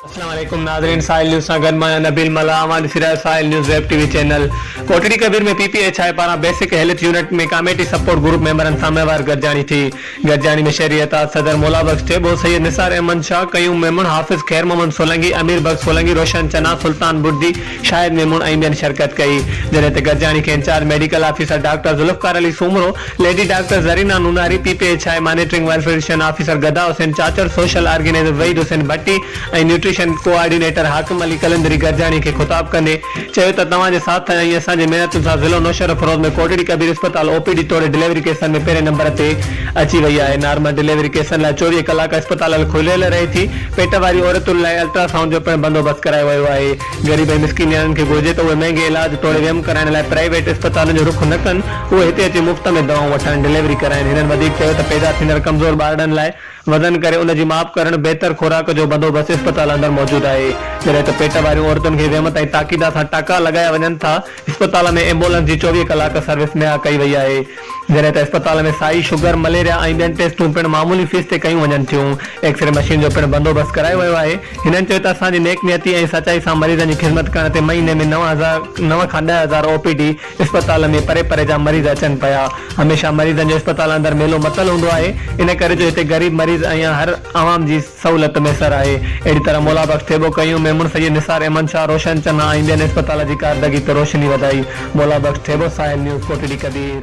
السلام عليڪم ناظرين ساحل نيوز سان گڏ مان آهيان نبيل ملاح اوهان ڏسي رهيا آهيو Sahil news web T V channel Kotri Kabir ۾ P P H I پاران basic health unit ۾ committee support group ميمبرن سان مهوار گڏجاڻي ٿي گڏجاڻي ۾ شهري اتحاد صدر مولا بخش ٽيٻو، سيد نثار احمد شاهه، قيوم ميمڻ، حافظ خير محمد سولنگي، امير بخش سولنگي، روشن چنا، سلطان بڙدي، شاهد ميمڻ ۽ ٻين شرڪت ڪئي. جڏهن ته گڏجاڻي کي in charge medical officer doctor Zulfiqar Ali Soomro, lady doctor Zarina Nonari, P P H I monitoring ويل physician officer Gada Hussain Chachar, social organiser Waheed Hussain Bhatti ۽ nutrition coordinator Hakim Ali قلندري گڏجاڻي کي خطاب ڪندي چيو ته توهان جي ساٿ ۽ اسان جي محنتن سان ضلعو نوشهروفيروز ۾ ڪوٽڙي ڪبير اسپتال او پي ڊي توڙي ڊليوري ڪيسن ۾ پهرين نمبر تي اچي وئي آهي نارمل ڊليوري ڪيسن لاء چوويهه ڪلاڪ اسپتالل کليل رهي ٿي پيٽ واري عورتن لاء الٽرا سائونڊ جو پڻ بندوبست ڪرايو ويو آهي غريب ۽ مسڪين نياڻين کي گهرجي ته اهي مهنگي علاج توڙي ويم ڪرائڻ لاء پرائيويٽ اسپتالن جو رخ نه ڪن اهي هتي اچي مفت ۾ دوائون وٺائن ڊليوري ڪرائن هنن وڌيڪ چيو ته پيدا ٿيندڙ ڪمزور ٻارڙن لاء وزن ڪري ان جي ماپ ڪرڻ، بهتر خوراڪ جو بندوبست اسپتال اندر موجود آهي، جڏهن ته پيٽ واريون عورتن کي ويم تائين تاڪيدا سان ٽاڪا لڳايا وڃن ٿا، اسپتال ۾ ايمبولنس جي چوويهه ڪلاڪ سروس مهيا ڪئي وئي آهي، جڏهن ته اسپتال ۾ سائي، شگر، مليريا ۽ ٻين ٽيسٽون پڻ معمولي فيس تي ڪيون وڃن ٿيون، ايڪسري مشين جو پڻ بندوبست ڪرايو ويو آهي، هنن چيو ته اسان جي نيڪ نيتي ۽ سچائي سان مريضن جي خدمت ڪرڻ تي مهيني ۾ نو هزار نو کان ڏهه هزار او پي ڊي اسپتال ۾ پري پري جا مريض اچن پيا. هميشه مريضن جو اسپتالن اندر ميلو متل هوندو آهي. ان ڪري جو هتي غريب مريض ۽ هر عوام جي سهولت ميسر آهي. اهڙي طرح مولا بخش ٿيٻو ڪيون، ميمڻ سيد، نثار احمد شاهه، روشن چنا ۽ ٻين اسپتال جي ڪاردگي تي روشني وڌائي. مولا بخش ٿيٻو، ساحل نيوز، ڪوٽڙي ڪبير.